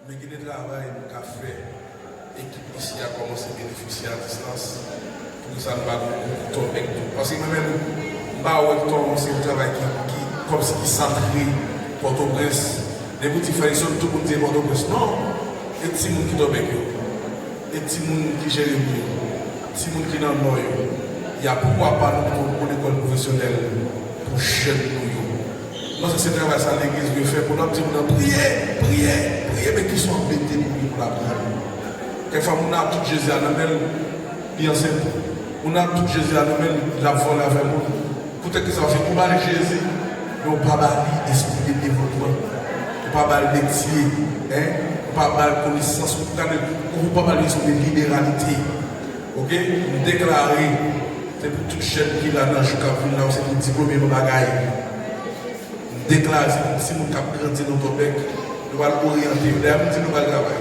Men gen de travay nou ka fè. Ekip isi a kòmanse benefisye a distans. Poukisa nou pa gen yon kou tò teknik? Paske mwen menm, m pa wè tò se yon travay ki kòmsi ki santre Pòtoprens. Depi w di Frèyson, tout moun di e Pòtoprens. Non! E timoun ki tò bèk yo? E timoun ki jere mi yo? Timoun ki nan Nò yo, y a pouvwa ba nou pito bon lekòl pwofesyonèl pou jèn nou yo. M panse se travay sa legliz dwe fè pou l ap di moun nan priye, priye, priye men ki sa w ap mete pou li pou l aprann. Kèk fwa moun nan ap tout Jezi a nan men l, li ansent. Moun nan ap tout Jezi a nan men l, l ap vole avè moun. Poutèt ki sa w se pou w ba l Jezi. Non pa ba li espri de devotman ou pa bal metye hein ou pa bal konesans ou ta de ou pa bal lezon de liberalite ok m deklare se pou tout jèn ki la nan jou kap vin la ou se pou diplome yon bagay m deklare se pou ti moun kap grandi nan Tòbèk nou pral oryante yo dayè m di nou pral travay.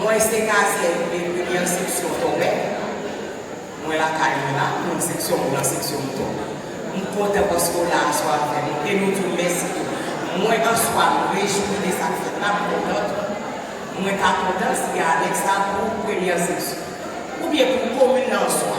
Mwen se kazyèm de premyè seksyon Tòmè. Mwen lakay mwen la, non seksyon mwen lan seksyon mouton. M kontan paske w la aswè a avè nou e nou di w mèsi tou. Mwen answa m rejwi de sa k fèt la, m kontan tou. Mwen ta kontan si Alex ta pou premyè seksyon. Oubyen pou komin nan answa.